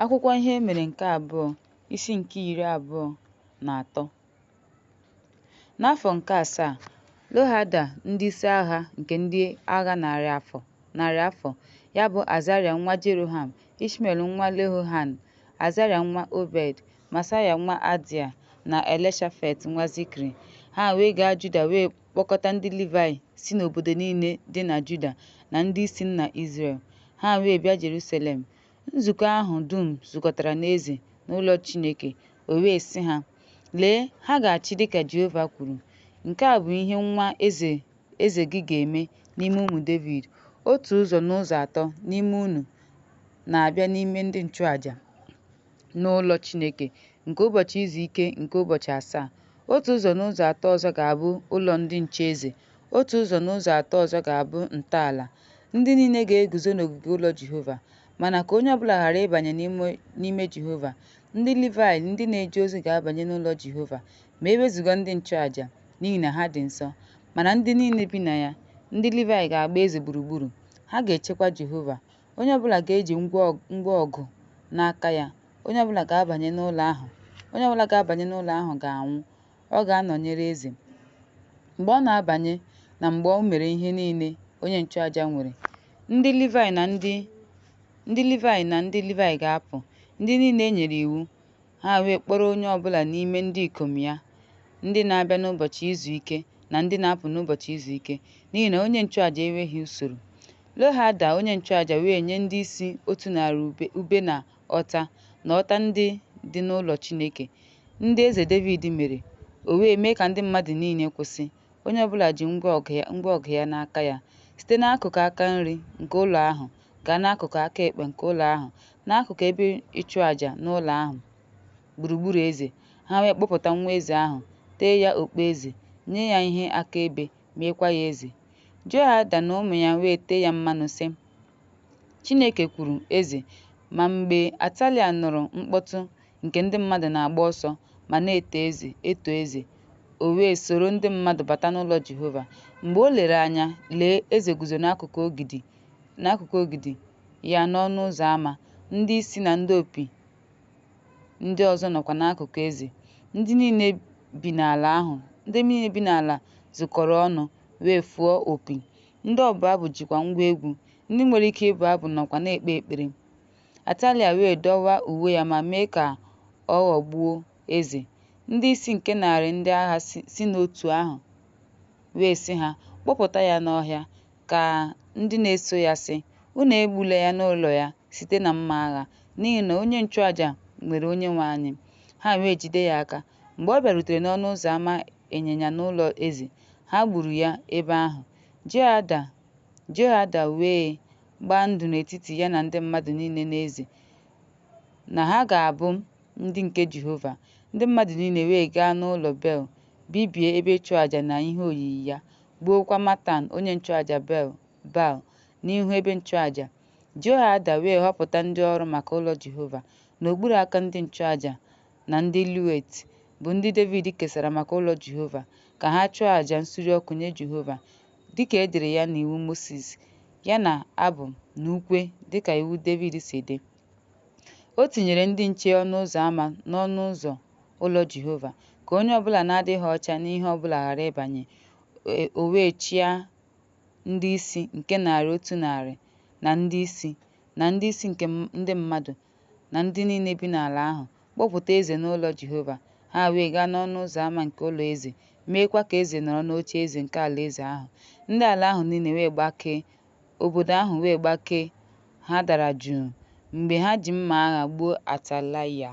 Akwụkwọ ihe e mere nke abụọ isi nke iri abụọ na atọ N'afọ nke asaa, Lohada ndị isi agha nke ndị agha narị afọ ya bụ Azarịa nwa Jeroham, Ishmel nwa Lehohan, Azarịa nwa Obed, Masaya nwa Adia na Elishafet nwa Zikri. Ha wee gaa Juda wee kpọkọta ndị Livayị si n'obodo niile dị na Juda na ndị isi nna Izrel. Ha wee bịa Jeruselem Nzukọ ahụ dum zukọtara n'eze n'ụlọ Chineke, o wee sị ha, Lee, ha ga-achị dịka Jehova kwuru. Nke a bụ ihe nwa eze gị ga-eme n'ime ụmụ Devid. Otu ụzọ n'ụzọ atọ n'ime unu na-abịa n'ime ndị nchụaja n'ụlọ Chineke nke ụbọchị izu ike nke ụbọchị asaa. Otu ụzọ n'ụzọ atọ ọzọ ga-abụ ụlọ ndị nche eze. Otu ụzọ n'ụzọ atọ ọzọ ga-abụ ntọala. Ndị niile ga-eguzo n'ogige ụlọ Jehova. Mana ka onye ọbụla ghara ịbanye n'ime Jehova. Ndị Livayị ndị na-eje ozi ga-abanye n'ụlọ Jehova ma e wezụga ndị nchụaja, n'ihi na ha dị nsọ. Mana ndị niile bi na ya, ndị Livayị ga-agba eze gburugburu. Ha ga-echekwa Jehova. Onye ọbụla ga-eji ngwa ọgụ n'aka ya. Onye ọbụla ga-abanye n'ụlọ ahụ. Onye ọbụla ga-abanye n'ụlọ ahụ ga-anwụ. Ọ ga-anọnyere eze mgbe ọ na-abanye na mgbe o mere ihe niile onye nchụaja nwere. Ndị Livayị na ndị Livayị ga-apụ, ndị niile e nyere iwu, ha wee kpọrọ onye ọbụla n'ime ndị ikom ya, ndị na-abịa n'ụbọchị izu ike na ndị na-apụ n'ụbọchị izu ike, n'ihi na onye nchụaja enweghị usoro. Lohada onye nchụaja wee nye ndị isi otu narị ube na ọta na ọta ndị dị n'ụlọ Chineke, ndị eze Devid mere, o wee mee ka ndị mmadụ niile kwụsị, onye ọbụla ji ngwa ọgụ ya n'aka ya, site n'akụkụ aka nri nke ụlọ ahụ gaa n'akụkụ aka ekpe nke ụlọ ahụ, n'akụkụ ebe ịchụ aja n'ụlọ ahụ, gburugburu eze. Ha wee kpọpụta nwa eze ahụ, tee ya okpueze, nye ya ihe akaebe, meekwa ya eze. Jehoiada na ụmụ ya wee tee ya mmanụ, sị, Chineke kwuru, Eze. Ma mgbe Atalia nụrụ mkpọtụ nke ndị mmadụ na-agba ọsọ ma na-eto eze, eto eze, o wee soro ndị mmadụ bata n'ụlọ Jehova. Mgbe o lere anya, lee, eze guzo n'akụkụ ogidi ya n'ọnụ ụzọ ama, ndị isi na ndị opi ndị ọzọ nọkwa n'akụkụ eze. Ndị niile bi n'ala ahụ, ndị niile bi n'ala zukọrọ ọnụ wee fụọ opi. Ndị ọbụ abụ jikwa ngwa egwu ndị nwere ike ịbụ abụ nọkwa na-ekpe ekpere. Atalia wee dọwa uwe ya ma mee ka ọ ghọgbuo eze. Ndị isi nke narị ndị agha si n'otu ahụ wee sị ha, Kpọpụta ya n'ọhịa, ka ndị na-eso ya sị, Unu egbula ya n'ụlọ ya site na mma agha, n'ihi na onye nchụaja nwere Onyenwe anyị. Ha wee jide ya aka. Mgbe ọ bịarutere n'ọnụ ụzọ ama ịnyịnya n'ụlọ eze, ha gburu ya ebe ahụ. Jehoiada Jehoiada wee gbaa ndụ n'etiti ya na ndị mmadụ niile na eze na ha ga-abụ ndị nke Jehova. Ndị mmadụ niile wee gaa n'ụlọ Bel, bibie ebe ịchụaja na ihe oyiyi ya, gbuokwa Matan onye nchụaja Baal n'ihu ebe nchụaja. Jehoiada wee họpụta ndị ọrụ maka ụlọ Jehova n'okpuru aka ndị nchụaja na ndị Levit, bụ ndị Devid kesara maka ụlọ Jehova, ka ha chụọ aja nsure ọkụ nye Jehova, dịka e dere ya n'iwu Mosis, ya na abụ na ukwe dịka iwu Devid si dị. O tinyere ndị nche ọnụ ụzọ ama n'ọnụ ụzọ ụlọ Jehova, ka onye ọbụla na-adịghị ọcha n'ihe ọbụla ghara ịbanye. O wee chịa ndị isi nke narị otu narị na ndị isi, na ndị isi nke ndị mmadụ na ndị niile bi n'ala ahụ, kpọpụta eze n'ụlọ Jehova. Ha wee gaa n'ọnụ ụzọ ama nke ụlọ eze, meekwa ka eze nọrọ n'ocheeze nke alaeze ahụ. Ndị ala ahụ niile wee gbakee, obodo ahụ wee gbakee, ha dara jụụ mgbe ha ji mma agha gbuo Atalaịa.